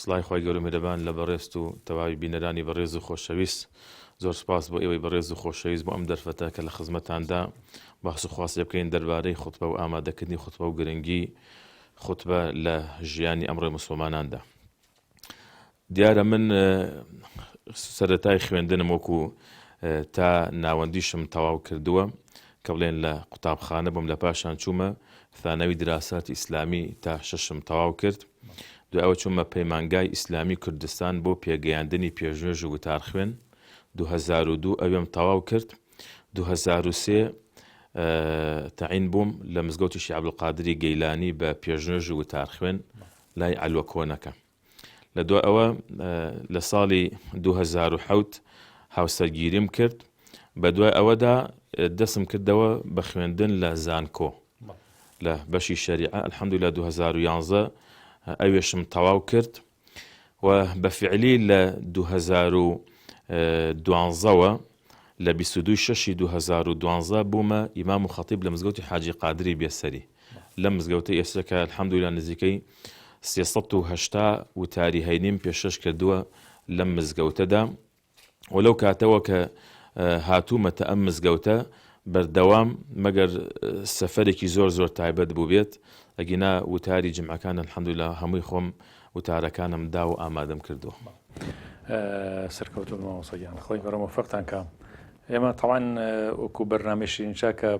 سڵای خوای گەورە و میرەبان لە بەڕێزت و تەواوی بینەرانی بەڕێز و خۆشەویست. زۆر سوپاس بۆ ئێوەی بەڕێز و خۆشەویست بۆ ئەم دەرفەتە کە لە خزمەتاندا باس و خواس لێبکەین دەربارەی خوتبە و ئامادەکردنی خوتبە و گرنگی خوتبە لە ژیانی ئەمڕۆی موسڵماناندا. دیارە من سەرەتای خوێندنم وەکو تا ناوەندیشم تەواو کردووە کە بڵێن لە قوتابخانە بووم لە پاشان چوومە ثانەوی دراسات ئیسلامی تا شەشم تەواو کرد دوای ئەوە چوومە پەیمانگای ئیسلامی کوردستان بۆ پێگەیاندنی پێشنوێژ و وتارخوێن، دوو هەزار و دوو ئەوێم تەواو کرد، دوو هەزار و سێ تەعین بووم لە مزگەوتی شێخ عەبدولقادری گەیلانی بە پێشنوێژ و وتارخوێن لای عەلوە کۆنەکە. لە دوای ئەوە لە ساڵی دوو هەزار و حەوت هاوسەرگیریم کرد، بە دوای ئەوەدا دەستم کردەوە بە خوێندن لە زانکۆ، لە بەشی شەریعە الحمدللە دوو هەزار و یانزدە ئەوێشم تەواو کرد و بە فعلی لە دوو هەزار و دوانزەوە لە بیست و دووی شەشی دوو هەزار و دوانزە بوومە ئیمام و خەتیب لە مزگەوتی حاجی قادری بێسەری لەم مزگەوتەی ئێستا کە الحمدللە نزیکەی سێ سەد و هەشتا وتاری هەینیم پێشکەش کردووە لەم مزگەوتەدا و لەو کاتەوە کە هاتوومەتە ئەم مزگەوتە بەردەوام مەگەر سەفەرێکی زۆر زۆر تایبەت بووبێت ئەگینا وتاری جمعەکان الحمدلله هەمووی خۆم وتارەکانم دا و ئامادەم کردووە. سەرکەوتوو مامۆسەگیان خۆی گەڕەمە فەقتان کام ئێمە تاوان وەکو بەرنمەشین چاکە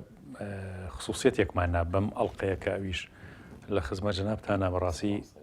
خصوصیت یەکماننا بەم ئەڵلقەیە کە ئەویش لە خزمە جنابتانە بەڕاستی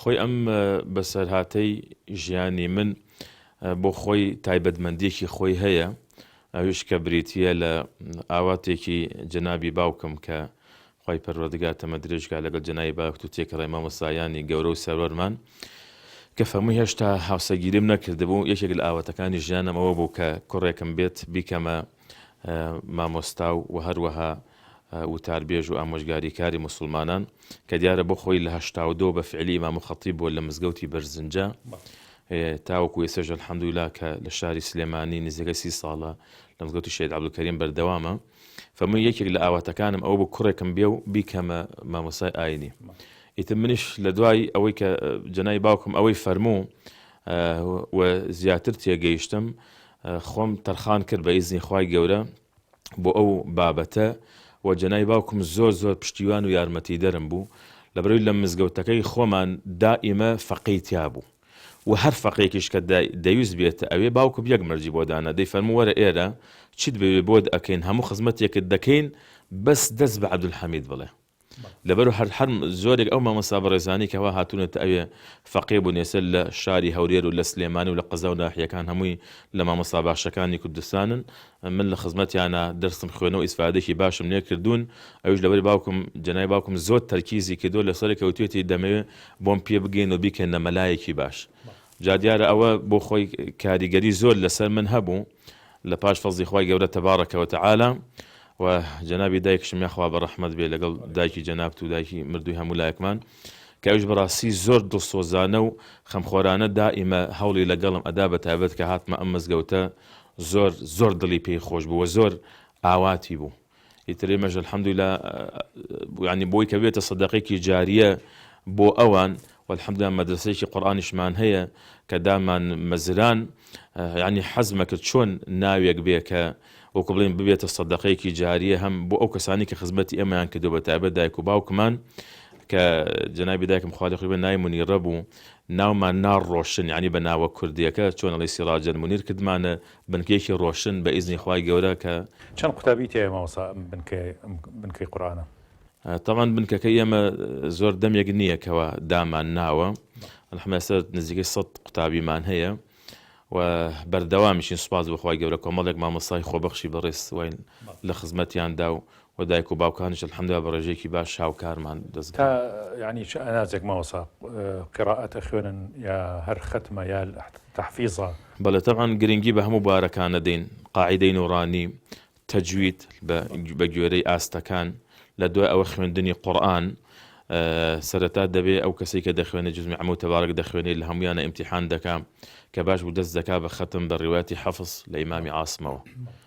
خۆی ئەم بەسەرهاتەی ژیانی من بۆ خۆی تایبەتمەندیەکی خۆی هەیە ئەویش کە بریتیە لە ئاواتێکی جەنابی باوکم کە خی پەروەردگار تەمە درێژکە لەگەڵ جەنای باکت و تێکڕێ مامۆسایانی گەورە و سەرەرمان کە فەمووی هێشتا هاوسەگیریم نەکردبوو یەکێک لە ئاواتەکانی ژیانەمەوە بوو کە کوڕێکم بێت بیکەمە مامۆستا و هەروەها وتاربێژ و ئامۆژگاریکاری موسڵمانان کە دیارە بۆ خۆی لە هەشتا و دوو بە فعلی ئیمام و خەتیب بووە لە مزگەوتی بەرزنجە تاوەکو ئێستەش الحمدللە کە لە شاری سلێمانی نزیکەی سی ساڵە لە مزگەوتی شێد عەبدولکەریم بەردەوامە فەمووی یەکێک لە ئاواتەکانم ئەو بوو کوڕێکم بێ و بیکەمە مامۆسای ئاینی ئیتر منیش لە دوای ئەوەی کە جەنای باوکم ئەوەی فەرموو و زیاتر تێگەیشتم خۆم تەرخان کرد بە ئیزنی خوای گەورە بۆ ئەو بابەتە و جەنای باوکم زۆر زۆر پشتیوان و یارمەتیدەرم بوو لەبەرەوەی لە مزگەوتەکەی خۆمان دائیمە فەقێی تیا بوو و هەر فەقێکیش کە دەیوست بێتە ئەوێ باوکم یەک مەرجی بۆ دانا دەیفەرموو وەرە ئێرە چیت بەوێ بۆت ئەکەین هەموو خزمەتێکت دەکەین بەس دەست بە عەبدولحەمید بڵێ لەبەر هەر هەر زۆرێک ئەو مامۆستا بەڕێزانەی کە وا هاتوونەتە ئەوێ فەقێ بوونێسە لە شاری هەولێر و لە سلێمانی و لە قەزا و ناحیەکان هەمووی لە مامۆستا باشەکانی کوردستانن من لە خزمەتیانا دەرسم خوێنەوە ئیسفادەکی باشم لێ کردوون ئەویش لەبەر باوکم جەنابی باوکم زۆر تەرکیزی کردووە لەسەرێکە وتوێتی دەمەوێ بۆم پێ بگێن و بیکەنە مەلایەکی باش جا دیارە ئەوە بۆ خۆی کاریگەری زۆر لەسەر من هەبوو لە پاش فەزڵی خوای گەورە تبارک و تعالی و جەنابی دایکشم یاخوا بە ڕەحمەت بێ لەگەڵ دایکی جەنابت و دایکی مردووی هەموو لایەکمان کە ئەوش بەڕاستی زۆر دڵسۆزانە و خەمخۆرانە دائیمە هەوڵی لەگەڵم ئەدا بە تایبەت کە هاتمە ئەم مزگەوتە زۆر زۆر دڵی پێی خۆش بوو و زۆر ئاواتی بوو. ئیتر ئێمەش الحمدللە یانی بۆی کە بێتە سەدەقێکی جاریە بۆ ئەوان والحمدللە مەدرسەیەکی قورآانیشمان هەیە کە دامان مەزران ینی حەزمە کرد چۆن ناوێک بێ کە وەکو بڵین ببێتە سەدەقەیەکی جاریە هەم بۆ ئەو کەسانی کە خزمەتی ئێمەیان کردو بە تابەت دایک و باوکمان کە جنابی دایکم خالی خوێ نای منی ڕەبوو ناومان ناڕۆشن ینی بە ناوە کوردیەکە چۆن ئەڵی سیڕاجەن منیر کردمانە بنکەیەکی ڕۆشن بە ئیزنی خوای گەورە کە. چەند قوتابی تیایە مامۆستا ئەم بنکەی قورئانە؟ تەبعەن بنکەکەی ئێمە زۆر دەمێک نییە کەوا دامان ناوە الحمدللە ئێستا نزیکەی سەد قوتابیمان هەیە و بەردەوامیشین سوپاس بۆ خوای گەورە کۆمەڵێک مامۆستای خۆبەخشی بەڕێز واین لە خزمەتیاندا و وە دایک و باوکانیش الحمدللە بە ڕێژەیەکی باش هاوکارمان تا دەزگا. یانی چ ئەناجەک مامۆستا قیرائەت ئەخوێنن یا هەر خەتمە یا تەحفیزە؟ بەڵێ تەبعەن گرنگی بە هەموو بارەکان ئەدەین قاعیدەی نوڕانی تەجوید بە گوێرەی ئاستەکان لە دوای ئەوە خوێندنی قوڕئان سەرەتا دەبێ ئەو کەسەی کە دەخوێنێ جزء من عمو تبارک دەخوێنێ لە هەموویانا ئیمتیحان دەکا کە باش بوو دەست دەکا بە خەتم بە ڕوایەتی حفظ لە ئیمامی عاصمەوە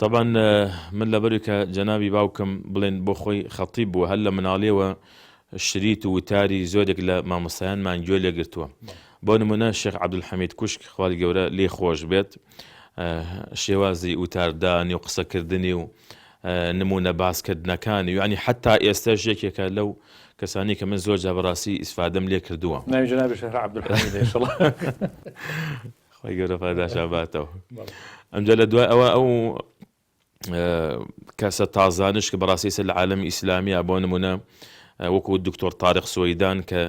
تەبعەن من لەبەروی کە جەنابی باوکم بڵێن بۆ خۆی خەتیب بووە هەر لە مناڵیەوە شریت و وتاری زۆرێک لە مامۆستایانمان گوێ لێ گرتووە بۆ نمونە شێخ عەبدولحەمید کوشک خوای گەورە لێی خۆش بێت شێوازی وتاردانی و قسەکردنی و نمونە باسکردنەکانی یعنی حتا ئێستاش یەکێکە لەو کەسانی کە من زۆر جا بەڕاستی ئیسفادەم لێ کردووە ناوی جەنابی شێخ عەبدولحەمید انشاءاللە خوای گەورە پاداشان باتەوە ئەمجا لە دوای ئەوە ئەو کەسە تازانش کە بەڕاستیسە لە عالم ئیسلامیا بۆ نمونە وەکو دکتۆر تارق سوەیدان کە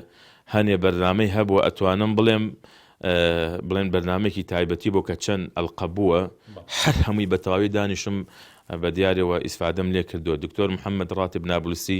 هەنێ بەرنمەی هەبووە ئەتوانم بڵێم بڵێن بەرنمێکی تایبەتی بۆ کە چەند ئەلقە بووە هەر هەمووی بە تەواوی دانیشم بە دیارەوە ئیسفادەم لێ کردو دکتۆر محەممەد ڕاتب نابلسی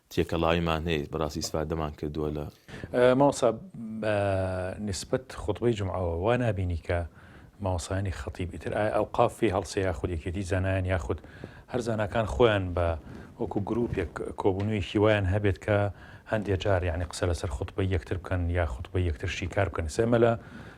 تێکەڵاویمان هەیە بەڕاستی ئیسفادەمان کردووە لە. مامۆستا بە نیسبەت خوتبەی جومعەوە وا نابینی کە مامۆستایانی خەتیب ئیتر ئایا ئەوقاف فی هەڵسێ یاخود یەکێتی زانایان یاخود هەر زاناکان خۆیان بە وەکو گروپێک کۆبوونەوەیەکی وایان هەبێت کە هەندێ جار یعنی قسە لەسەر خوتبەی یەکتر بکەن یا خوتبەی یەکتر شیکار بکەن سێ مەلا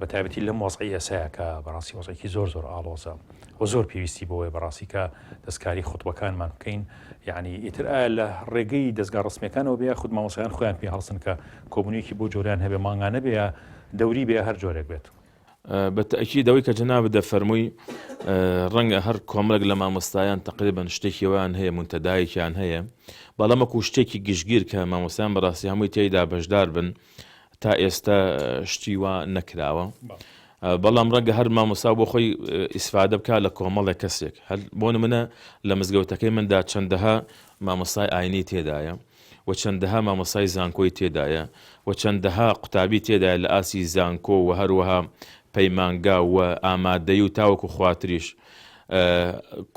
بە تایبەتی لەم وەزعی ئێسەیا کە بەڕاستی وەزعێکی زۆر زۆر ئاڵۆزە و زۆر پێویستی بەوەی بەڕاستی کە دەستکاری خوتبەکانمان بکەین یعنی ئیتر ئایا لە ڕێگەی دەستگا ڕسمیەکانەوە بێ خود مامۆسایان خۆیان پێ هەڵسن کە کۆبونیەکی بۆ جۆریان هەبێ مانگانە بێ یا دەوری بێ هەر جۆرێک بێت. بە تەئکید ئەوەی کە جەنابت دەفەرمووی ڕەنگە هەر کۆمەڵێک لە مامۆستایان تقریبا شتێکی وان هەیە منتەدایەکیان هەیە بەڵام وەکو شتێکی گشتگیر کە مامۆستایان بەڕاستی هەمووی تێیدا بەشدار بن تا ئێستا شتی وا نەکراوە بەڵام ڕەنگە هەر مامۆسا بۆ خۆی ئیسفادە بکە لە کۆمەڵێک کەسێک هەر بۆ منە لە مزگەوتەکەی مندا چەندەها مامۆستای ئاینی تێدایە و چەندەها مامۆسای زانکۆی تێدایە و چەندەها قوتابی تێدایە لە ئاسی زانکۆ و هەروەها پەیمانگا و ئامادەی و تاوەکو خواتریش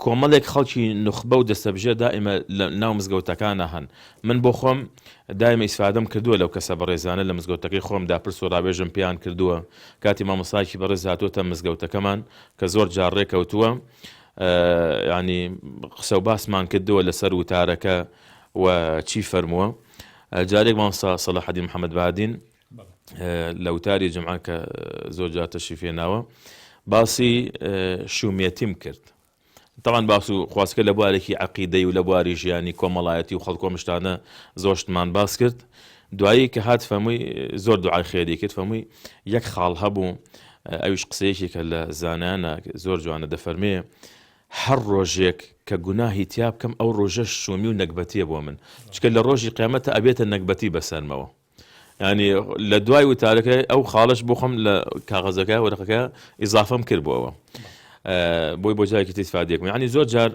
کۆمەلێک خەڵکی نوخبە و دەستەبژێر دائیمە لە ناو مزگەوتەکانا هەن، من بۆ خۆم دایمە ئیسفادەم کردووە لەو کەسە بەڕێزانە لە مزگەوتەکەی خۆم دا پرس و ڕاوێژم پێیان کردووە کاتی مامۆستایەکی بەڕێز هاتووەتە مزگەوتەکەمان کە زۆر جار ڕێ کەوتووە یانی قسە و باسمان کردووە لەسەر وتارەکە و چی فەرمووە جارێک مامۆستا سەلاحەدین محەممەد بادین لە وتاری جمعە کە زۆر جار تەشریف هێناوە باسی شوومێتیم کرد تاوان باس و خوازکە لە بوارێکی عقیدەی و لە بواری ژیانی کۆمەڵایەتی و خەڵکۆمشتانە زۆشتمان باس کرد دوایی کە هات فەمووی زۆر دوعای خێری کرد فەمووی یەک خاڵ هەبوو ئەویش قسەیەکی کە لە زانانە زۆر جوانە دەفەرمێ هەر ڕۆژێک کە گوناهی تیا بکەم ئەو ڕۆژە شومی و نەگبەتیە بۆ من چکە لە ڕۆژی قیامەتە ئەبێتە نەگبەتی بەسەرمەوە یانی لە دوای وتارەکەی ئەو خاڵش بۆ خۆم لە کاغەزەکە وەرەقەکە ئیزافم کرد بۆەوە بۆی بۆ جایکی تیسفادێکم ینی زۆر جار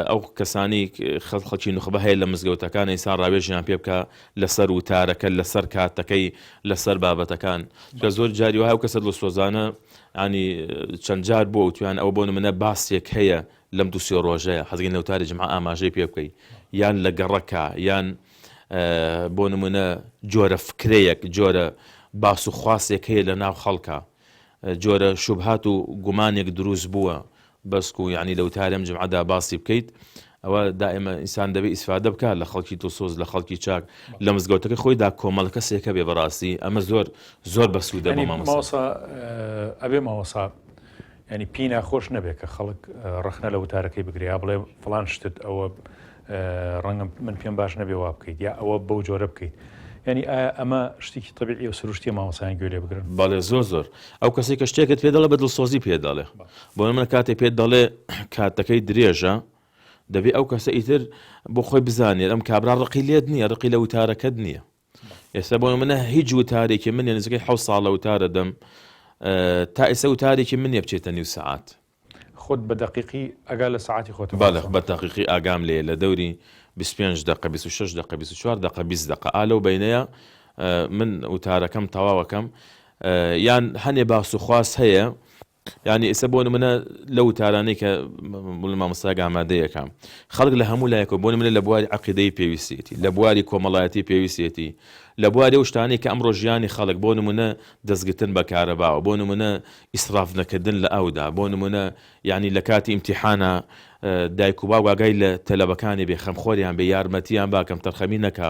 ئەو کەسانی خەڵ خەڵکی نخبە هەیە لە مزگەوتەکان ئیسا ڕاوێژیان پێ بکە لەسەر وتارەکە لەسەر کاتەکەی لەسەر بابەتەکان کە زۆر جاری وها و کەسە لە سۆزانە ینی چەند جار بۆ تویان ئەو بۆ منە باسێک هەیە لەم دوسێ ڕۆژەیە حەزگەی نەوتاری جمع ئاماژەی پێ بکەیت یان لە گەڕەکە یان بۆ نمونە جۆرە فکرەیەک جۆرە باس و خواسێک هەیە لە ناو خەڵکە جۆرە شوبهات و گومانێک دروست بووە بەسک و یعنی لەوتارم جمعدا باسی بکەیت ئەوە دائمە ئینسان دەبێت ئیسفادە بکات لە خەڵکی تۆسۆز لە خەڵکی چاک لە مزگەوتەکە خۆیدا کۆمەڵە کەسێکە بێ بەڕاستی ئەمە زۆر زۆر بەسوودە بۆ مامۆسا ئەبێ مامۆسا یانی پێی ناخۆش نەبێ کە خەڵک ڕەخنە لە وتارەکەی بگرێ یا بڵێ فڵان شتت ئەوە ڕەنگە من پێم باش نەبێ وا بکەیت یا ئەوە بەو جۆرە بکەیت یانی ئایا ئەمە شتێکی تەبیعی و سروشتیە مامۆستایان گوێ لێ بگرن بەڵێ زۆر زۆر ئەو کەسێک کە شتێکت پێ دەڵێ بە دڵسۆزی پێ دەڵێ بۆ نمونە کاتێ پێت دەڵێ کاتەکەی درێژە دەبێ ئەو کەسە ئیتر بۆ خۆی بزانێت ئەم کابرا ڕقی لێت نییە ڕقی لە وتارەکەت نییە ئێستا بۆ نمونە هیچ وتارێکی من نزیکەی حەوت ساڵە وتارە دەم تا ئێستا وتارێکی من نیە بچێتە نیو سەعات خۆت بە دەقیقی ئەگا لە سەعاتی خۆت بەڵێ بە تاقیقی ئاگام لێ لە دەوری 25 دقە 26 دقە 24 دقە 20 دقە ئا لەو بینەیە من وتارەکەم تەواوەکەم یان هەنێ باس و خواست هەیە یانی ئیسە بۆ نمونە لەو تارانەی کە بڵ مامۆستاگ ئامادەیەکە خەڵک لە هەموو لایەکەوە بۆ نمونە لە بواری عقیدەی پێویستێتی لە بواری کۆمەڵایەتی پێویستێتی لە بواری ئەو شتانەی کە ئەمڕۆ ژیانی خەڵک بۆ نمونە دەستگرتن بە کارەباوە بۆ نمونە ئیسراف نەکردن لە ئەودا بۆ نمونە یعنی لە کاتی ئیمتیحانە دایک و باوگاگای لە تەلەبەکانی بێ خەمخۆریان بێ یارمەتیان باکەم تەرخەمی نەکا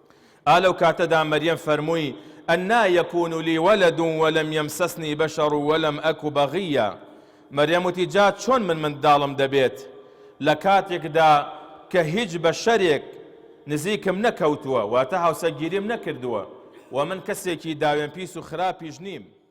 ئا لەو کاتەدا مەریەم فەرمووی، ئەننا یکون لی ولد ولم یمسسنی بشر ولم ئەک بغیا، مەریەم وتی، جا چۆن من منداڵم دەبێت لە کاتێکدا کە هیچ بەشەرێک نزیکم نەکەوتووە، واتە هاوسەگیریم نەکردووە، وە من کەسێکی داوێنپیس و خراپیش نیم.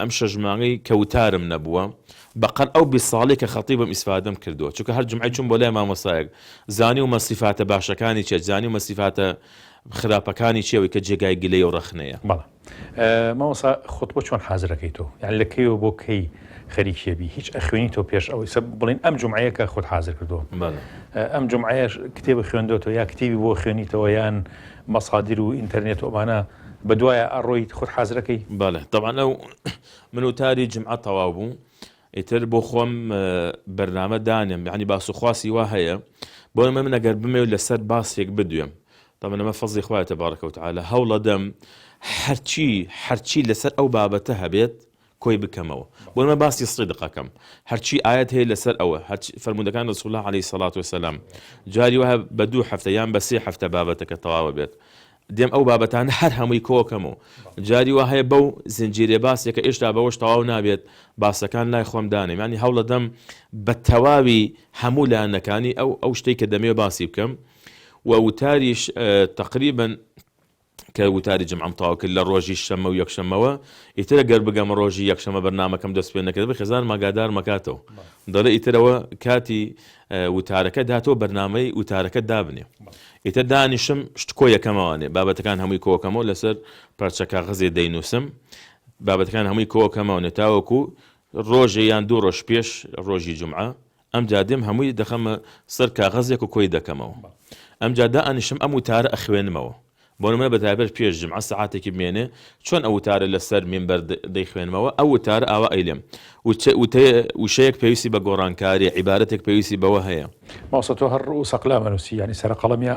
ئەم شەش مانگەی کە وتارم نەبووە بەقەد ئەو بیست ساڵەی کە خەتیبم ئیسفادەم کردووە چونکە هەر جومعەی چووم بۆ لای مامۆستایەک زانیومە سیفاتە باشەکانی چیە زانیومە سیفاتە خراپەکانی چیە ئەوەی کە جێگای گلەی و ڕەخنەیە. بەڵێ مامۆستا خوتبە چۆن حازر ئەکەی تۆ یان لە کەیەوە بۆ کەی خەریکی ئەبی هیچ ئەخوێنی تۆ پێش ئەوەی سەب بڵێن ئەم جمعەیە کە خۆت حازر کردووە ئەم جمعەیەش کتێبە خوێندۆتەوە یا کتێبی بۆ خوێنیتەوە یان مەسادر و ئینتەرنێت و ئەمانە بە دوایە ئەڕۆیت خۆت حازرەکەی. بەڵێ تەبعەن ئەو من وتاری جمعە تەواو بوو ئیتر بۆ خۆم بەرنامە دانێم یعنی باس و خواسی وا هەیە بۆیە من ئەگەر بمەوێت لەسەر باسێک بدوێم تەبعەن ئەمە فەزڵی خوایە تبارک و تعالی هەوڵەدەم هەرچی هەرچی لەسەر ئەو بابەتە هەبێت کۆی بکەمەوە بۆ ئێمە باسی صدق ئەکەم هەرچی ئایەت هەیە لەسەر ئەوە هەرچ فەرموودەکان رسول اللە علیە الصلوة والسلام جاری وایە بە دوو هەفتە یان بە سێ هەفتە بابەتەکە تەواو ئەبێت دێم ئەو بابەتانە هەر هەمووی کۆ ئەکەمەوە جاری وا هەیە بەو زنجیرە باسێکە ئێشتا بەوەش تەواو نابێت باسەکان لای خۆم دانێم ینی هەوڵە دەم بە تەواوی هەموو لایەنەکانی ئەو ئەو شتێک کە دەمێ باسی بکەم و وتاریش تقریبن کە وتاری جمعەم تەواو کرد لە ڕۆژی شەمە و یەکشەمەوە ئیتر ئەگەر بگەمە ڕۆژی یەکشەمە بەرنامەکەم دەست پێ نەکرد بە خێزانم ئاگادارم ئەکاتەوە دەڵێ ئیتر ئەوە کاتی وتارەکەت هاتەوە بەرنامەی وتارەکەت دابنێ ئیتر دانیشم شتکۆ یەکەمەوانێ بابەتەکان هەمووی کۆکەمەوە لەسەر پارچە کاغەزێ دەینووسم بابەتەکان هەمووی کۆکەمەوە نەتاوەکو ڕۆژێ یان دوو ڕۆژ پێش ڕۆژی جمعە ئەمجا دێم هەمووی دەخەمە سەر کاغەزێک و کۆی دەکەمەوە ئەمجا دائەنیشم ئەم وتارە ئەخوێنمەوە بۆ نمونە بە تایبەت پێش جومعە سەعاتێکی بمێنێ چۆن ئەو وتارە لەسەر مینبەر دەیخوێنمەوە ئەو وتارە ئاوا ئەیلێم وشەیەک پێویستی بە گۆڕانکاریە عیبارەتێک پێویستی بەوە هەیە. مامۆستا تۆ هەر ڕووس ئەقلام ئەنووسی یانی سەرە قەڵەم یا.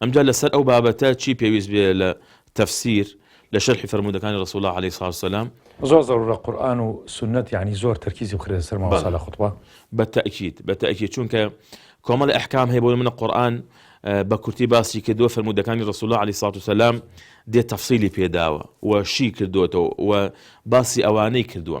ئەمجا لەسەر ئەو بابەتە چی پێویست بێ لە تەفسیر لە شەرحی فەرموودەکانی رسول اللە علیە الصلوة والسلام. زۆر زەرورە قورئان و سوننەت یەعنی زۆر تەرکیزی بخرێتە سەر مامۆستا لە خوتبە. بەڵێ بە تەئکید بە تەئکید چونکە کۆمەڵێ ئەحکام هەیە بۆ نمونە قورئان بە کورتی باسی کردووە فەرموودەکانی رسول اللە علیە الصلوة والسلام دێ تەفسیلی پێداوە و شی کردۆتەوە و باسی ئەوانەی کردووە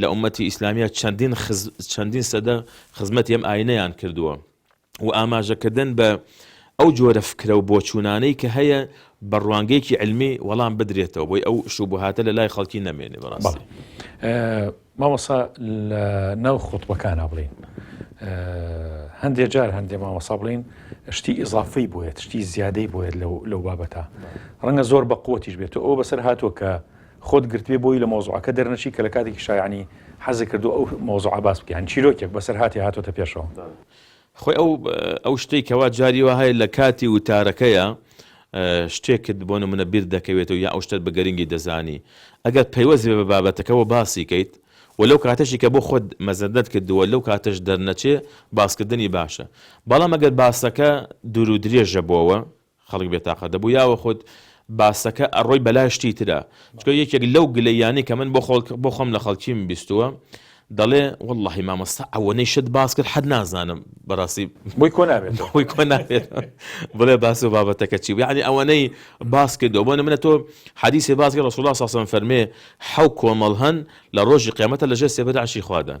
لە ئوممەتی ئیسلامییە چەندین خز چەندین سەدە خزمەتی ئەم ئاینەیان کردووە و ئاماژەکردن بە ئەو جۆرە فکرە و بۆچوونانەی کە هەیە بە ڕوانگەیەکی علمی وەڵام بدرێتەوە بۆی ئەو شوبهاتە لە لای خەڵکی نەمێنێ بەڕاستی مامۆسا لە ناو خۆتبەکانە بڵین هەندێ جار هەندێ مامۆسا بڵین شتی ئیزافەی بۆیە شتی زیادەی بۆیە لەو لەو بابەتە ڕەنگە زۆر بە قوتیش بێت ئەو بەسەر هاتووە کە خۆت گرتبێ بۆی لە مەوزوعەکە دەرنەچی کە لە کاتێکیشا یەعنی حەزت کردووە ئەو مەوزوعە باس بکەی یەعنی چیرۆکێک بەسەرهاتێ هاتۆتە پێشەوە. خۆی ئەو ئەو شتەی کەوا جاری وا هەیە لە کاتی وتارەکەیا شتێکت بۆ نموونە بیر دەکەوێتەوە یا ئەو شتەت بە گرنگی دەزانی ئەگەر پەیوەست بێ بە بابەتەکەوە باسی کەیت و لەو کاتەشی کە بۆ خۆت مەزەندەت کردووە لەو کاتەش دەرنەچێ باسکردنی باشە بەڵام ئەگەر باسەکە دوور و درێژە بۆوە خەڵک بێ تاقەت دەبوو یاوەخود باسەکە ئەڕۆی بەلا شتی ترا چکە یەکێک لەو گلەییانەی کە من بۆ خۆم لە خەڵکیم بیستووە دەڵێ وەڵڵاهی مامۆستا ئەوەنەی شت باس کرد حەد نازانم بەڕاستی بۆی کۆ نابێت خۆی کۆ نابێت بڵێ باس و بابەتەکە چی یعنی ئەوەنەی باس کردەوە بۆ نمرە تۆ حەدیسی باسکە ڕسوڵا ساسم فەرمێ حەو کۆمەڵ هەن لە ڕۆژی قیامەتە لەژێ سێبەرعشی خوادان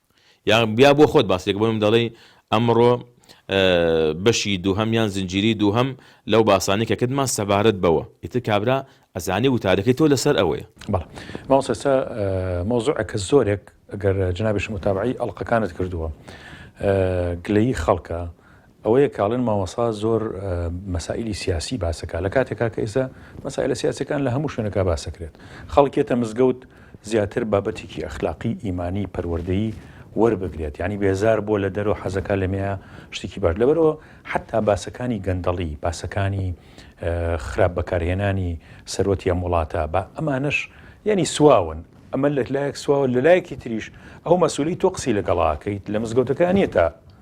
یا یا بۆ خۆت باس لێکە بۆ من دەڵێی ئەمڕۆ بەشی دووهەم یان زنجیری دووهەم لەو باسانی کە کردمان سەبارەت بەوە ئیتر کابرا ئەزانێ وتارەکەی تۆ لەسەر ئەوەیە بەڵێ مامۆستا ئێستا مەوزوعەکە زۆرێک ئەگەر جنابیش متابعەی ئەڵقەکانت کردووە گلەیی خەڵکە ئەوەیە کاڵێن مامۆسا زۆر مەسائیلی سیاسی باسەکە لە کاتێکا کە ئێستا مەسائلە سیاسەکان لە هەموو شوێنەکە باسەکرێت خەڵکێتە مزگەوت زیاتر بابەتێکی ئەخلاقی ئیمانی پەروەردەیی وەربگرێت ینی بێزار بۆ لە دەرەوە حەزەکە لەمەیە شتێکی باش لەبەرەوە حتا باسەکانی گەندەڵی باسەکانی خراپ بەکارهێنانی سەرۆتی ئەم وڵاتە بە ئەمانش یعنی سواون ئەمە لە لایەک سواوە لە لایەکی تریش ئەو مەسولی تۆ قسی لەگەڵاکەیت لە مزگەوتەکانیە تا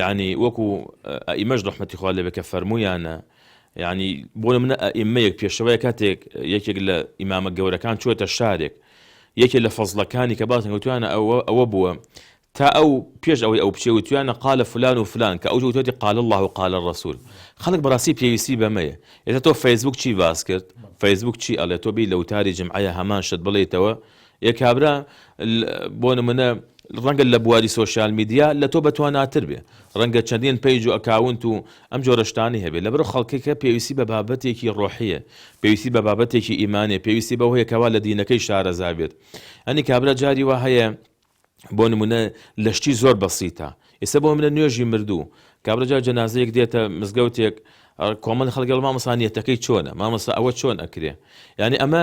یەعنی وەکو ئەئیمەش ڕەحمەتی خوا لێبێ کە فەرموویانە یعنی بۆ منە ئەئیمەیەک پێشەوەیە کاتێک یەکێک لە ئیمامە گەورەکان چوێتە شارێک یەکێ لە فەزلەکانی کە باسن وتوانە ئەوە ئەوە بووە تا ئەو پێش ئەوەی ئەو بچێ وتوانە قالە فلان و فلان کە ئەو جوتێتی قال الله و قالە ڕسول خەڵک بەڕاستی پێویستی بەمەیە ئێستا تۆ فەیسبوک چی باس کرد فەیسبوک چی ئەڵێ تۆ بی لە وتاری جمعە هەمان شت بڵێیتەوە ئێ کابرا بۆ نمونە ڕەنگە لە بواری سۆشیال میدیا لە تۆ بەتواناتر بێ ڕەنگە چەندین پەیج و ئەکاونت و ئەم جۆرە شتانەی هەبێ لەبەرو خەڵکەکە پێویستی بە بابەتێکی ڕۆحیە پێویستی بە بابەتێکی ئیمانێ پێویستی بەوە هەیە کەوا لە دینەکەی شارەزا بێت ئەنی کابرا جاری وا هەیە بۆ نمونە لە شتی زۆر بەسیتە ئێستا بۆ منە نوێژی مردوو کابرا جار جەنازەیەک دێتە مزگەوتێک کۆمەل خەڵگەڵ مامەسانیەتەکەی چۆنە مامەسا ئەوە چۆن ئەکرێ یعنی ئەمە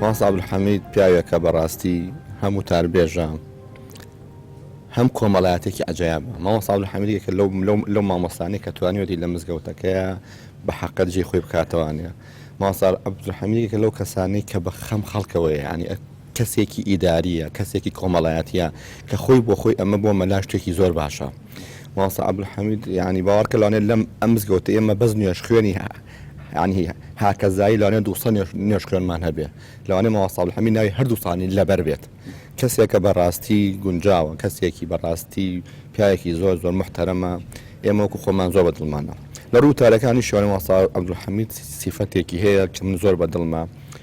مامۆستا عەبدولحەمید پیاوێکە بەڕاستی هەم وتاربێژە هەم کۆمەڵایەتێکی عجایبە مامۆستا عەبدولحەمیدێکە لەو لەو لەو مامۆستانەی کە توانیوەتی لە مزگەوتەکەیە بە حەقەت جێی خۆی بکاتەوانە مامۆستا عەبدولحەمیدێکە لەو کەسانەی کە بە خەم خەڵکەوەیە یانی کەسێکی ئیداریە کەسێکی کۆمەڵایەتیە کە خۆی بۆ خۆی ئەمە بۆ مەلا شتێکی زۆر باشە مامۆستا عبدالحمید یعنی باوەڕکە لەوانێ لەم ئەم مزگەوتە ئێمە بەس نوێژ خوێنی یعنی هاکەزایی لەوانێ دووسە نوێژ خوێنمان هەبێ لەوانێ مامۆستا عبدالحمید ناوی هەردووسانی لەبەر بێت کەسێکە بەڕاستی گونجاوە کەسێکی بەڕاستی پیاوێکی زۆر زۆر محتەرەمە ئێمە وەکو خۆمان زۆر بە دڵمانە لە ڕوو تارەکانی شوێنە مامۆستا عبدالحمید سیفەتێکی هەیە کە من زۆر بە دڵمە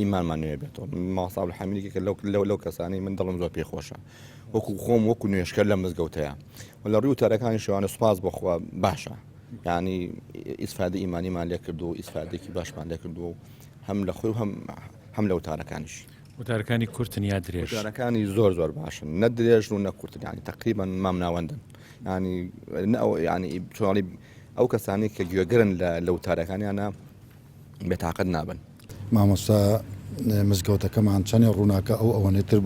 ئیمانمان نوێ بێتەوە ماڵسا حەمیدێکە لەو لەو لەو کەسانی من دڵم زۆر پێ خۆشە وەکو خۆم وەکو نوێشکە لە مزگەوتەیە و لە ڕیو تەرەکانی شوانە سوپاس بخوا باشە ینی ئیسفادە ئیمانیمان لێ کرد و ئیسفادێکی باشمان لێ کرد و هەم لە خۆی هەم هەم لە وتارەکانیش وتارەکانی کورتن یا درێژەکانی زۆر زۆر باشن نە درێژ و نە کورتنیانی تقریبان مام ناوەندن ینی نە ئەو ینی چۆڵی ئەو کەسانی کە گوێگرن لە لە وتارەکانیانە بێتاقەت نابن. مامۆستا مزگەوتەکەمان چەنێ ڕووناکە ئەو ئەوەنێ تر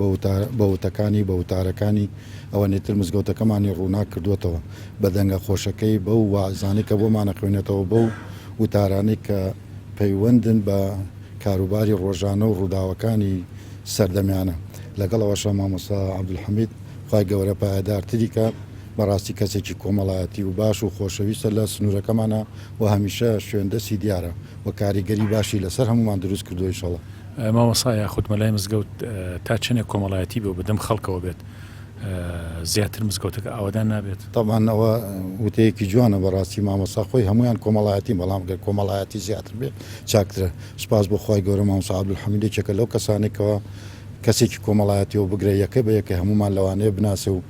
بە وتەکانی بە وتارەکانی ئەوەنێ تر مزگەوتەکەمانی ڕووناک کردووەتەوە بە دەنگە خۆشەکەی بەو واعزانەی کە بۆمان ئەخوێنێتەوە بەو وتارانەی کە پەیوەندن بە کاروباری ڕۆژانە و ڕووداوەکانی سەردەمیانە لەگەڵ ئەوەشە مامۆستا عەبدولحەمید خوای گەورە پایەدارتری کات بەڕاستی کەسێکی کۆمەڵایەتی و باش و خۆشەویستە لە سنوورەکەمانە و هەمیشە شوێن دەستی دیارە و کاریگەری باشی لەسەر هەموومان دروست کردووە ئیشەڵا. مامۆسا یاخود مەلای مزگەوت تا چەنێک کۆمەڵایەتی بێ و بەدەم خەڵکەوە بێت زیاتر مزگەوتەکە ئاوەدان نابێت؟ تەبعەن ئەوە وتەیەکی جوانە بەڕاستی مامۆستا خۆی هەموویان کۆمەڵایەتین بەڵام گەر کۆمەڵایەتی زیاتر بێ چاکترە سوپاس بۆ خوای گەورە مامۆستا عەبدولحەمید یەکێکە لەو کەسانەی کەوا کەسێکی کۆمەڵایەتیەوە بگرە یەکە بە یەکە هەموومان لەوانەیە بناسێ و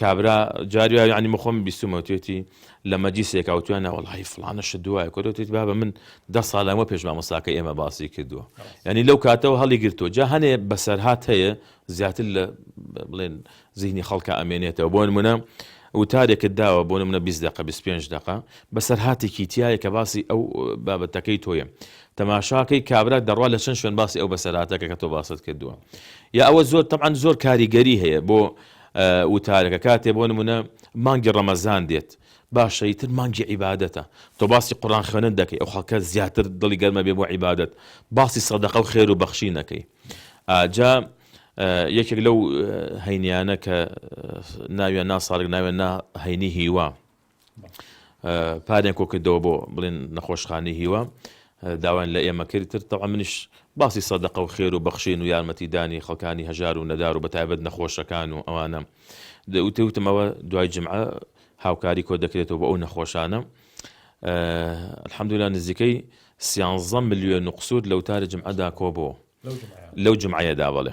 کابرا جاری وایە یانی من خۆم بیستوومە توێتی لە مەجلیسێکا وتویان نا وەڵاهی فڵانە شت دوایە کۆتەوە توێتی بابە من دە ساڵ لەمەوە پێش مامۆستاکەی ئێمە باسی کردووە یعنی لەو کاتەوە هەڵی گرتووە جا هەنێ بەسەرهات هەیە زیاتر لە بڵێن زیهنی خەڵکە ئەمێنێتەوە بۆ نمونە وتارێکت داوە بۆ نمونە 20 دقە 25 دقە بەسەرهاتێکی تایە کە باسی ئەو بابەتەکەی تۆیە تەماشاکەی کابرا دەڕوا لە چەند شوێن باسی ئەو بەسەراتەکە کە تۆ باست کردووە یا ئەوە زۆر تەعاان زۆر کاریگەری هەیە بۆ وتارەکە کاتێ بۆ نمونە مانگی ڕەمەزان دێت باشە ئیتر مانگی عیبادەتە تۆ باسی قورئان خوێنن دەکەی ئەو خەڵکە زیاتر دڵی گەرمە بێ بۆ عیبادەت باسی سەدەقە و خێر و بەخشی نەکەی ئاجا یەکێک لەو هەینیانە کە ناویان نا ساڵک ناوێن نا هەینی هیوا پارەیان کۆکردەوە بۆ بڵێن نەخۆشخانەی هیوا داوایان لە ئێمە کرد تر تەوا منیش باسی سەدەقە و خێر و بەخشین و یارمەتیدانی خەڵکانی هەژار و نەدار و بەتایبەت نەخۆشەکان و ئەوانە دەوتەوتمەوە دوای جمعە هاوکاری کۆ دەکرێتەوە بۆ ئەو نەخۆشانە الحەمدولا نزیکەی سیانزە ملیۆن و قسوور لەوتاری جمعەدا کۆبوو لەو جمعەیەدا بڵێ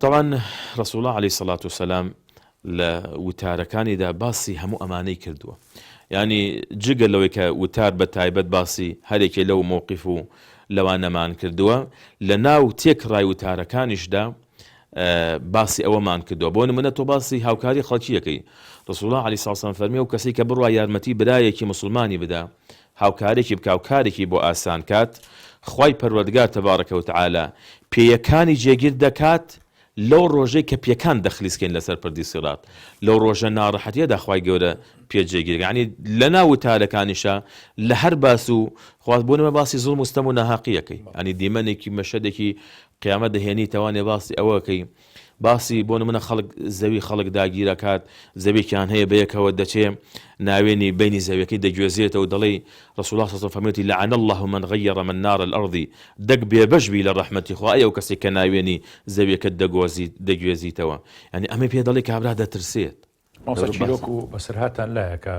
تەبعەن رسوڵە علی سەڵات و سەلام لە وتارەکانیدا باسی هەموو ئەمانەی کردووە یعنی جگە لەوەی کە وتار بە تایبەت باسی هەرێکێ لەو مووقف و لەوانەمان کردووە لە ناو تێک ڕای وتارەکانیشدا باسی ئەوەمان کردووە بۆ نمونە تۆ باسی هاوکاری خەڵکیەکەی رسوڵە علی ساسان فەرمی و کەسی کە بڕوا یارمەتی برایەکی مسلمانی بدا هاوکارێکی بکا و کارێکی بۆ ئاسان کات، خوای پەروەردگار تبارک و تعالی پێیەکانی جێگیر دەکات لەو ڕۆژەی کە پێکان دەخلیس کەین لەسەر پردی سیڕات، لەو ڕۆژە ناڕەحەتیەدا خوای گەورە پێ جێگیر دەکات یەعنی لەناو وتارەکانیشا لە هەر باس و خواست بۆ نمونە باسی زوڵم و ستەم و ناهەقی ئەکەی یەعنی دیمەنێکی مەشهەدێکی قیامەت دەهێنیتەوە یەعنی باسی ئەوە ئەکەی باسی بۆ نمونە خەڵک زەوی خەڵک داگیرەکات زەویەکیان هەیە بەیەکەوە دەچێ ناوێنی بەینی زەویەکەی دەگوێزێتەوە دەڵێی رسوڵا ساسەم فەرموێتی لعن اللە من غیر من نار الارض دەک بێبەش بی لە رەحمەتی خوا ئەی ئەوکەسەی کە ناوێنی زەویەکەت دەگۆزیت دەگوێزیتەوە یانی ئەمەی پێ دەڵێی کابرا دەترسێت. مامۆستا چیرۆک و بەسەرهاتتان لایە کە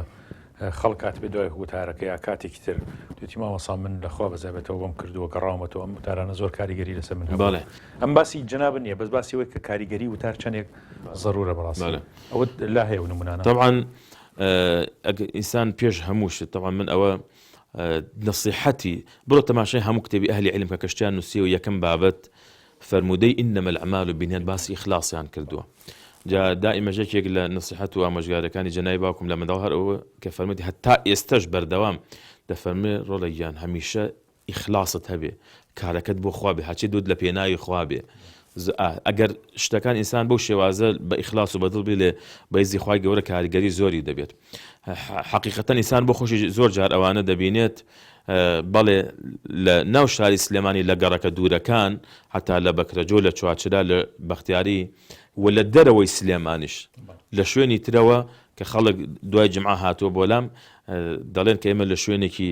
خەڵک هاتبێ دوای وتارەکە یا کاتێکی تر توتی مامەسا من لەخوا بەزابێتەوە بم کردووە گەڕاومەتەوە ئەم وتارانە زۆر کاریگەری لەسەر من هەباڵێ ئەم باسی جناب نییە بەس باسی وەی کە کاریگەری وتار چەندێک ضرورە بەڕاستە ئەوە لا هەیە و نمونانە طبعاان ئینسان پێش هەمووشت تەوان من ئەوە نسیحەتی بۆ تەماشای هەموو کتێبی ئەهلی علم کە کەشتیان نووسیەوە یەکەم بابەت فەرموودەی انما الاعمال بنیات باسی ئیخلاسیان کردووە جا دائیمەش یەکێک لە نەسیحەت و ئامۆژگاریەکانی جەنابی باوکم لە منداڵ هەر ئەوە کە فەرمووتی هەتا ئێستەش بەردەوام دەفەرموێ ڕۆڵە گیان هەمیشە ئیخلاست هەبێ کارەکەت بۆ خوا بێ هەرچی دوت لە پێناوی خوا بێ ئەگەر شتەکان ئینسان بەو شێوازە بە ئیخلاس و بەدڵ بێ لێ بەیزی خوای گەورە کاریگەری زۆری دەبێت حەقیقەتەن ئیسان بۆ خۆشی زۆر جار ئەوانە دەبینێت بەڵێ لە ناو شاری سلێمانی لە گەڕەکە دوورەکان هەتا لە بەکرەجۆ لە چوارچرا لە بەختیاری و لە دەرەوەی سلێمانیش لە شوێنی ترەوە کە خەڵک دوای جمعە هاتووە بۆلام دەڵێن کە ئێمە لە شوێنێکی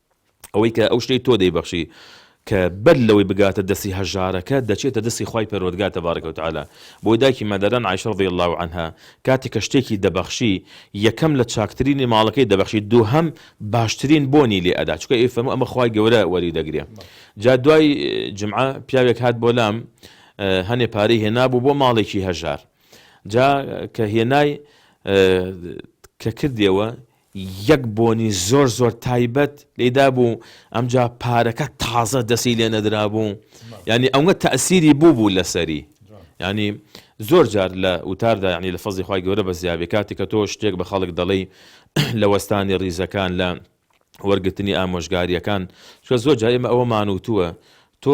ئەوەی کە ئەو شتەی تۆ دەیبەخشی کە بەر لەوەی بگاتە دەستی هەژارەکە دەچێتە دەستی خوای پەروەردگار تبارک و تعالی بۆی دایکی مادەران عائشە رضی الله عنها کاتێک کە شتێکی دەبەخشی یەکەم لە چاکترینی ماڵەکەی دەبەخشی دووهەم باشترین بۆنی لێ ئەدا چونکە ئەی فەرموو ئەمە خوای گەورە وەری دەگرێ جا دوای جمعە پیاوێک هات بۆ لام هەنێ پارەی هێنابوو بۆ ماڵێکی هەژار جا کە هێنای کە کردیەوە یەک بۆنی زۆر زۆر تایبەت لێی دابوو ئەمجا پارەکە تازە دەسی لێ نەدرابوو یانی ئەوە تەسیری بوو بوو لەسەری ینی زۆر جار لە وتاردا ینی لە فەزی خخوای گەورە بە زیابێ کاتی کە تۆ شتێک بە خەڵک دەڵی لە وەستانی ریزەکان لە وەرگرتنی ئامۆژگاریەکان چکە زۆر جای ئمە ئەوە مانوتووە تۆ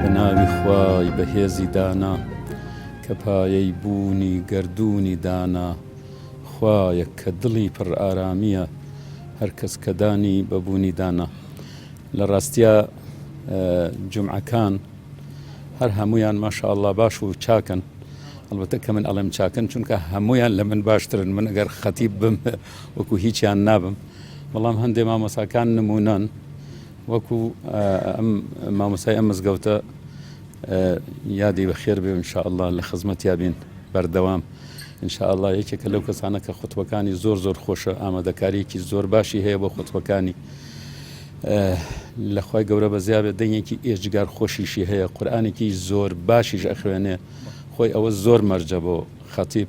بە ناوی خوای بەهێزی دانا کە پایەی بوونی گەردوونی دانا خوایەک کە دڵی پڕ ئارامیە هەر کەس کە دانی بە بوونی دانا لە ڕاستیا جمعەکان هەر هەمویان ماشاءله باش و چاکن ئەلبەتە کە من ئەڵێم چاکن چونکە هەمویان لە من باشترن من ئەگەر خەتیب بم وەکو هیچیان نابم بەڵام هەندێ مامۆساکان نمونەن وەکو ئەم مامۆسای ئەم مزگەوتە یادی بە خێر بێ انشاءله لە خزمەت یابین بەردەوام انشاءله یەکێکە لەو کەسانە کە خوتوەکانی زۆر زۆر خۆشە ئامادەکاریەکی زۆر باشی هەیە بۆ خوتوەکانی لەخوای گەورە بە زیابێت دەنگێکی ئێجگار خۆشیشی هەیە قورآانێکی زۆر باشیش ئەخوێنێ خۆی ئەوە زۆر مەرجە بۆ خەتیب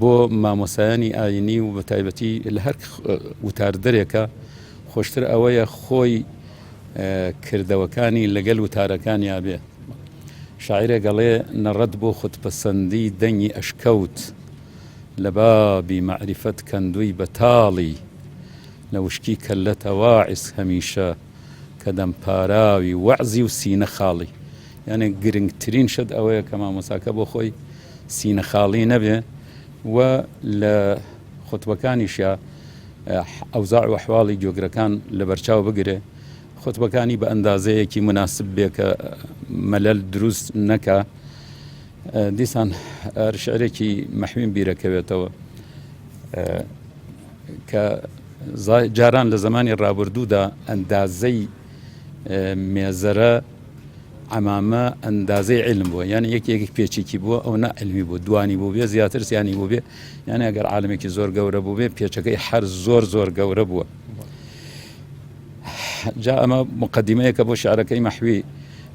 بۆ مامۆستایانی ئاینی و بەتایبەتی لە هەر وتار دەرێکە خۆشتر ئەوەیە خۆی کردەوەکانی لەگەل وتارەکان یابێ شاعرە گەڵێ نەڕەت بۆ خودپەسەندی دەنگی ئەشکەوت لە بابی مەعریفەت کەندووی بەتاڵی لە وشکی کەللەتەواعس هەمیشە کە دەم پاراوی وەعزی و سینە خاڵی یانێ گرنگترین شت ئەوەیە کە مامۆساکە بۆ خۆی سینە خاڵی نەبێ و لە خۆتبەکانیشە ئەوزاع و حواڵی جۆگرەکان لە بەرچاو بگرێ خۆتبەکانی بە ئەندازەیەکی مناسب بێ کە مەلەل دروست نەکە دیسان شعرێکی مەحوین بیرەکەوێتەوە کە جاران لە زەمانی ڕابردوودا ئەندازەی مێزەرە ئەمامە ئەندازەی علم بووە یان یەکێکی پێچێکی بووە ئەو نە علمی بۆ دوانی بوو بێ زیاتر سیانی بوو بێ یانە ئەگەر عاالمێکی زۆر گەورە بوو بێ پێچەکەی هەر زۆر زۆر گەورە بووە جا ئەمە مقدمەیەکە بۆ شعرەکەی مەحوی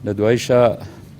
لە دوایشە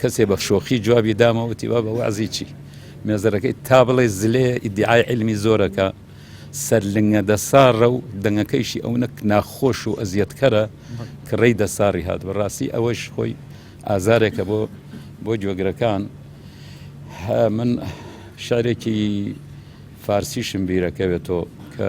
کەسێ بە شۆخی جوابی دامە وتی بە وازی چی مێزەرەکەی تا بڵێ زلێ ئیدعای علمی زۆرەکە سەر لنگە دەساڕە و دەنگەکەیشی ئەو نەک ناخۆش و ئەزیەتکەرە کڕی دەساڕی هات بەڕاستی ئەوەش خۆی ئازارێکە بۆ بۆ گوێگرەکان من شارێکی فارسیشم بیرەکەوێتەوە کە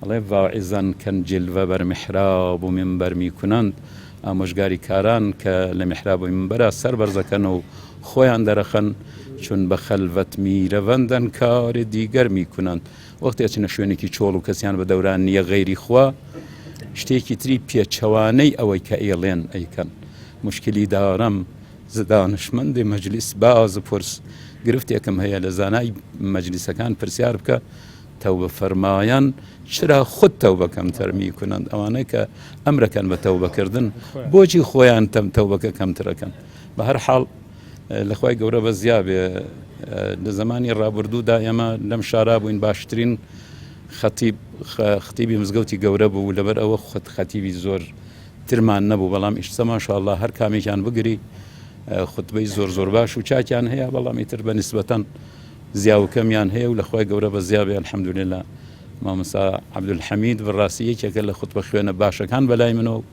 ئەڵێ، واعظەن کەن جلوە بەر میحراب و مینبەر میکنەند، ئامۆژگاری کاران کە لە میحراب و مینبەرا سەر بەرزەکەن و خۆیان دەرەخەن، چون بە خەلوەت میرەوەندن کار دیگر میکنەند، وەختی ئەچنە شوێنێکی چۆڵ و کەسیان بە دەوران نیە غەیری خوا، شتێکی تری پێچەوانەی ئەوەی کە ئەیڵێن ئەیکەن. موشکیلی دارم ز دانشمەندی مەجلیس باز بپرس، گرفتێکم هەیە لە زانای مەجلیسەکان پرسیار بکە، تەوبە فەرمایان چرا خود تەوبە کەمتر میکنند ئەوانەی کە ئەمرەکەن بە تەوبە کردن بۆچی خۆیان تەم تەوبەکە کەمترەکەن بە هەر حاڵ لەخوای گەورە بە زیابێ لە زمانی ڕابردوودا ئێمە لەم شارا بووین باشترین خەتیب خەتیبی مزگەوتی گەورە بوو لەبەر ئەوە خۆت خەتیبی زۆر ترمان نەبوو بەڵام ئیشتە ماشاءله هەر کامێکیان بگری خوتبەی زۆر زۆر باش و چاکیان هەیە بەڵامی تر بە نسبەتەن زیاوکەمیان هەیە و لەخوای گەورە بەزیابێ الحمدللە مامۆستا عبدالحمید بڕاستی یەکێکە لە خوتبە خوێنە باشەکان بەلای منەوە و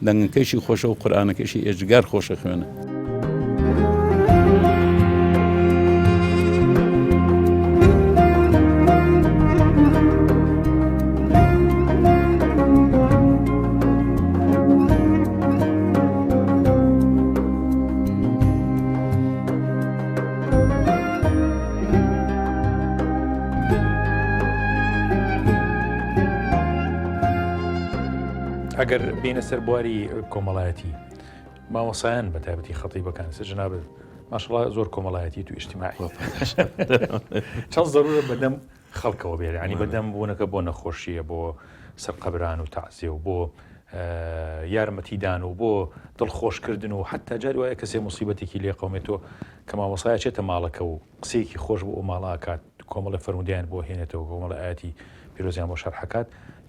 دەنگەکەشی خۆشە و قورآانەکەشی ئێجگار خۆشە خوێنە. ئەگەر بینە سەر بواری کۆمەڵایەتی مامۆسایان بە تابەتی خەتی بەکان سە جناب ماشڵ زۆر کۆمەڵایەتی تو ئیشتیماعی چەند زەرورە بەدەم خەڵکەوە بێت ینی بەدەم بوونەکە بۆ نەخۆشیە بۆ سەرقەبران و تەعزێ و بۆ یارمەتیدان و بۆ دڵخۆشکردن و حتا جار وایە کەسێ مصیبەتێکی لێ قومێتۆ کە مامۆسایە چێتە ماڵەکە و قسەیەکی خۆش بۆ ئەو ماڵاکات کۆمەڵی فەرمودیان بۆ هێنێتەوە کۆمەڵە ئاتی پیرۆزیان بۆ شەرحەکات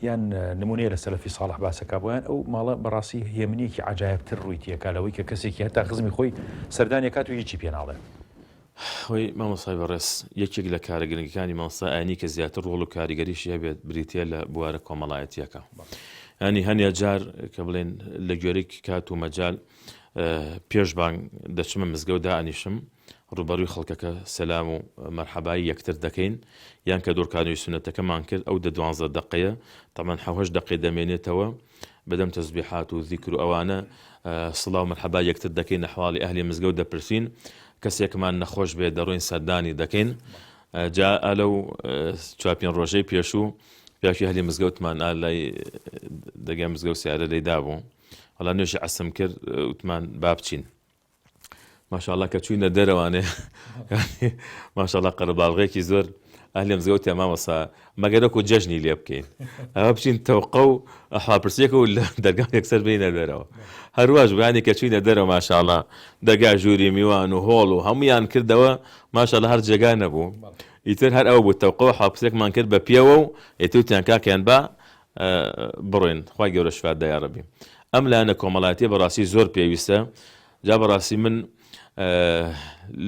یان نمونەیە لە سەلفی ساڵح باسەکە بۆیان ئەو ماڵە بەڕاستی هێمنێکی عجاایبتر ڕووی تێکا لەوەی کە کەسێکی هەتا خزمی خۆی سەردانێکات و هیچی پێناڵێت هۆی، مامۆستای بەڕێز یەکێک لە کارە گرنگەکانی مامۆستای ئاینی کە زیاتر ڕۆڵ و کاریگەریشی هەبێت بریتیە لە بوارە کۆمەڵایەتیەکە ینی هەنێ جار کە بڵێن لە گوێرەی کات و مەجال پێش بانگ دەچمە مزگەوت دائنیشم ڕوبەروی خەڵکەکە سەسلام و مەرحەبایی یەکتر دەکەین یان کە دۆرکانوی سونەتەکەمان کرد ئەو دە دوانزە دقەیە تەمان حوهش دقی دەمێنێتەوە بەدەم تەزبیحات و زیکر و ئەوانە سڵاو مەرحەبای یەکتر دەکەین ئەحواڵی ئەهلی مزگەوت دەپرسین کەسێکمان نەخۆش بێت دەڕۆین سەردانی دەکەین جا ئەلەو چوار پێنج ڕۆژەی پێشوو پیاوی هەلی مزگەوتمان ئالای دەگەم مزگەوت سیارە لێدا بوو هەڵا نوێژی عسم کرد وتمان با بچین ماشاءاللە کە چووینە دەرەوانێ ماشاءاللە قەرەباڵغێکی زۆر ئەهلێم زگەوتێ مامەسا مەگەرەکو جەژنی لێ بکەین ئەوە بچین تەوقە و ئەحاپرسیەکە و لە دەرگا یەکسەر بینە دەرەوە هەرواش بانی کە چووینە دەرەوە ماشاءاللە دەگا ژووری میوان و هۆڵ و هەمویان کردەوە ماشاءاللە هەر جێگا نەبوو ئیتر هەر ئەو بوو تەوقەوە حاپسێکمان کرد بە پێوە و ئێتوتیان کاکەیان با بڕۆین خوای گەورە شفات دا یاڕەبی ئەم لایەنە کۆمەڵاتیە بەڕاستی زۆر پێویستە جا بەڕاستی من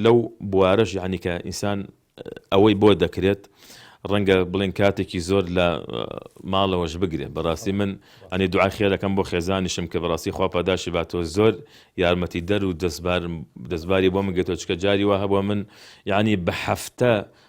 لەو بوارەش یعنی کە ئینسان ئەوەی بۆ دەکرێت ڕەنگە بڵێن کاتێکی زۆر لە ماڵەوەش بگرێ بەڕاستی من ئەنی دوعای خێرەکەم بۆ خێزانیشم کە بەڕاستی خوا پاداشی باتەوە زۆر یارمەتی دەر و دەستباری بۆ من گێتۆچکە جاری وە هەبووە من یعنی بە هەفتە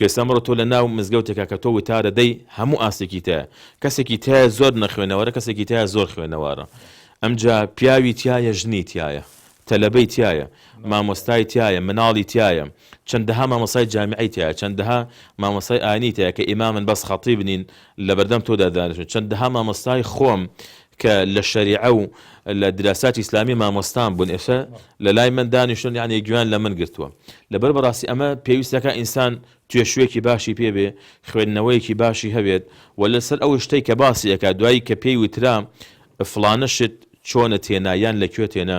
کوێستان بڕۆ تۆ لە ناو مزگەوتێکا کە تۆ وتارە دەی هەموو ئاستێکی تایە کەسێکی تایە زۆر نەخوێنەوارە کەسێکی تایە زۆر خوێنەوارە ئەمجا پیاوی تایە ژنی تایە تەلەبەی تایە مامۆستای تایە مناڵی تایە چەندەها مامۆسای جامیعی تایە چەندەها مامۆسای ئاینی تایە کە ئیمامن بەس خەتیب نین لە بەردەم تۆدا دانیشن چەندەها مامۆستای خۆم کە لە شەریعە و لە دراساتی ئیسلامی مامۆستام بوون ئێستا لە لای من دانیشتون یعنی گوێیان لە من گرتووە لەبەر بەڕاستی ئەمە پێویست دەکات ئینسان توێشووێکی باشی پێ بێ خوێندنەوەیەکی باشی هەبێت و لەسەر ئەو شتەی کە باسی ئەکات دوایی کە پێی وترا فڵانە شت چۆنت هێنا یان لە کوێت هێنا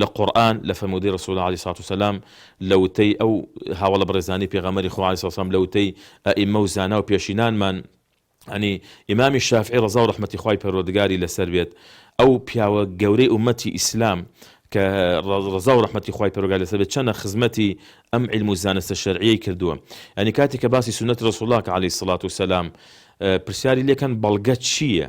لە قورئان، لە فەرموودەی رسول علیە سڵات و سلام، لە وتەی ئەو هاوەڵە بەڕێزانەی پێغەمبەری خوا علیە سڵات و سلام، لە وتەی ئەئیمە و زانا و پێشینانمان، یانی ئیمامی شافعی رەزا و رەحمەتی خوای پەروەردگاری لەسەر بێت، ئەو پیاوە گەورەی ئوممەتی ئیسلام کە رەزا و رەحمەتی خوای پەروەگاری لەسەر بێت چەنە خزمەتی ئەم عیلم و زانستە شەرعیەی کردووە، یانی کاتێ کە باسی سوننەتی رسول اللە کە علیە سڵات و سلام پرسیاری لێکەن بەڵگەت چیە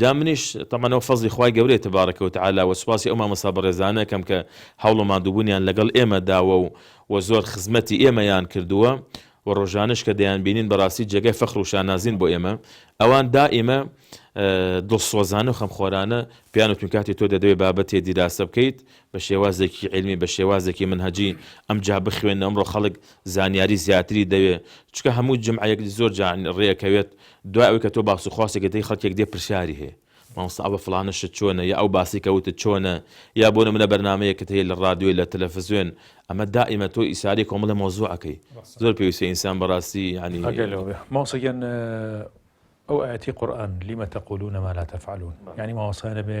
جا منیش تەبعەن ئەو فەزڵی خوای گەورەیە تبارک و تعالی وە سوپاسی ئەو مامۆستا بەڕێزانە ئەکەم کە هەوڵ و ماندووبونیان لەگەڵ ئێمە داوە و وە زۆر خزمەتی ئێمەیان کردووە وە ڕۆژانەش کە دەیان بینین بەڕاستی جێگای فەخر و شانازین بۆ ئێمە ئەوان دائیمە دڵسۆزانە و خەمخۆرانە پێیان وتم کاتی تۆ دەدەوێت بابەتێ دیراسە بکەیت بە شێوازێکی علمی بە شێوازێکی منهجی ئەم جا بخوێنە ئەمڕۆ خەڵک زانیاری زیاتری دەوێ چکە هەموو جمعەیەک زۆر جان ڕێەکەوێت دوای ئەوەی کە تۆ باس و خواسێکت هەی خەڵکێک دێ پرسیاری هەیە مامۆستا ئەوە فڵانە شت چۆنە یا ئەو باسەی کە وتت چۆنە یا بۆ نمونە بەرنامەیەکت هەیە لە ڕادیۆ لە تەلەفزوێن ئەمە دائیمە تۆ ئیساری کۆمەڵی مەوزوع ئەکەی زۆر پێویستە ئینسان بەڕاستی یانی ئەگەر لەوە بێ مامۆستا گیان ئەو ئایەتی قورئان لم تقولون ما لا تفعلون یانی مامۆستا نەبێ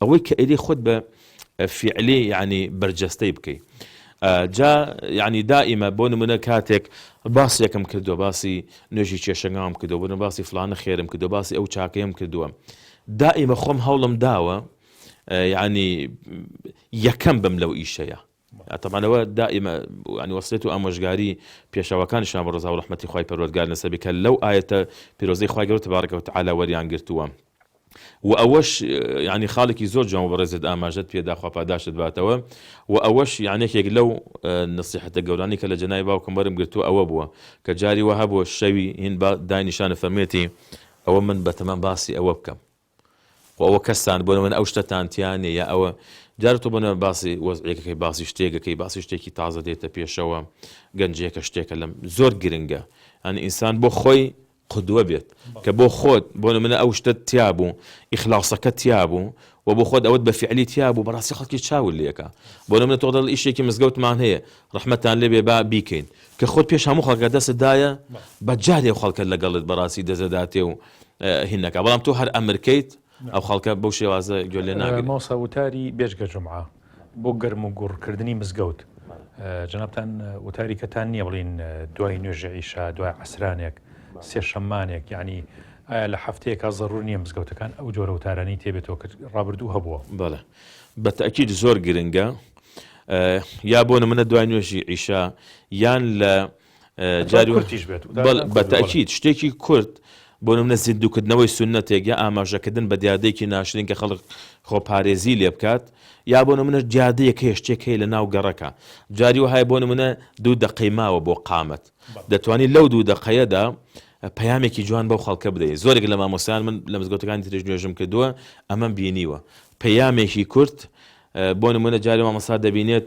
ئەوەی کە ئەیلێ خۆت بە فیعلی یانی بەرجەستەی بکەی جا یعنی دائیمە بۆ نمونە کاتێک باسێکم کردو باسی نوێژی کێشەنگام کردو بن باسی فلانە خێرم کردو باسی ئەو چاکەیەم کردووە دائیمە خۆم هەوڵم داوە یعنی یەکەم بم لەو ئیشەیە تەبعەن ئەوە دائیمە یانی وەسیەت و ئامۆژگاری پێشەواکانیشان بۆ ڕەزا و ڕەحمەتی خوای پەروەردگار لەسەر بێت کە لەو ئایەتە پیرۆزەی خوای گەورە تبارک و تعالی وەریان گرتووە و ئەوەش یانی خاڵێکی زۆر جوان و بەڕێزت ئاماژەت پێدا خوا پاداشتت باتەوە و ئەوەش یان یەکێک لەو نەسیحەتە گەورانی کە لە جەنای باوکم وەرم گرتووە ئەوە بووە کە جاری وەها بۆ شەوی هین با داینیشانە فەرموویەتی ئەوە من بەتەمام باسی ئەوە بکەم خۆ ئەوە کەستان بۆ نمونە ئەو شتەتان تیا نیە یا ئەوە جارە تۆ بۆ نمونە باسی وەزعیەکەکەی باسی شتێکەکەی باسی شتێکی تازە دێتە پێشەوە گەنجێکە شتێکە لەم زۆر گرنگە ئەن ئینسان بۆ خۆی قدوە بێت کە بۆ خۆت بۆ نمونە ئەو شتە تیا بوو ئیخلاصەکە تیا بوو و بۆ خۆت ئەوت بە فعلی تیا بوو بەڕاستی خەڵکی چاول لەکە بۆ نمونە تۆ دەڵ ئیشێکی مزگەوتمان هەیە ڕحمەتان لێبێ با بیکەین کە خۆت پێش هەموو خەڵکە دەستدایە بە جارێ خەڵکە لەگەڵت بەڕاستی دەزەداتێ و هین نەکا بەڵام تۆ هەر ئەمرکەیت ئەو خەڵکە بەو شێوازە گوێ لێ ناگرن. مامۆستا وتاری بێجگە جومعە بۆ گەرم و گوڕ کردنی مزگەوت جەنابتان وتاری کەتان نییە بڵین دوای نوێژە ئیشا دوای عسرانێک سێ شەمانێک یعنی ئایا لە هەفتەیەکە زەڕور نییە مزگەوتەکان ئەو جۆرە وتارانی تێبێتەوە کرد ڕابردوو هەبووە بەڵێ بە تاکیید زۆر گرنگە یا بۆ نمونە دوای نوێژی ئیشا یان لە بەتاکییت شتێکی کورد بۆ منە زیندوکردنەوەی سنەتێک یا ئاماژەکردن بە دیادێکی ناشرین کە خەڵک خۆپارێزی لێ بکات یا بۆ منە دیادەیەک هەیە شتێک هەیە لە ناو گەڕەکە جاری وهای بۆ منە دوو دەقەی ماوە بۆ قامت دەتوانانی لەو دوو دەقەیەدا پەیامێکی جوان بەو خەڵکە بدەیت زۆرێک لە مامۆسیان من لە مزگەوتەکانی ترێژ نوێژم کردووە ئەمەم بینیوە پەیامێکی کورت بۆ منە جاری مامەسا دەبینێت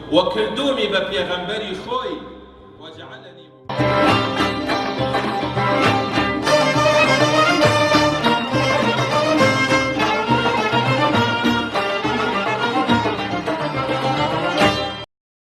وکردومی بە پێغەمبەری خۆی وجعلنی.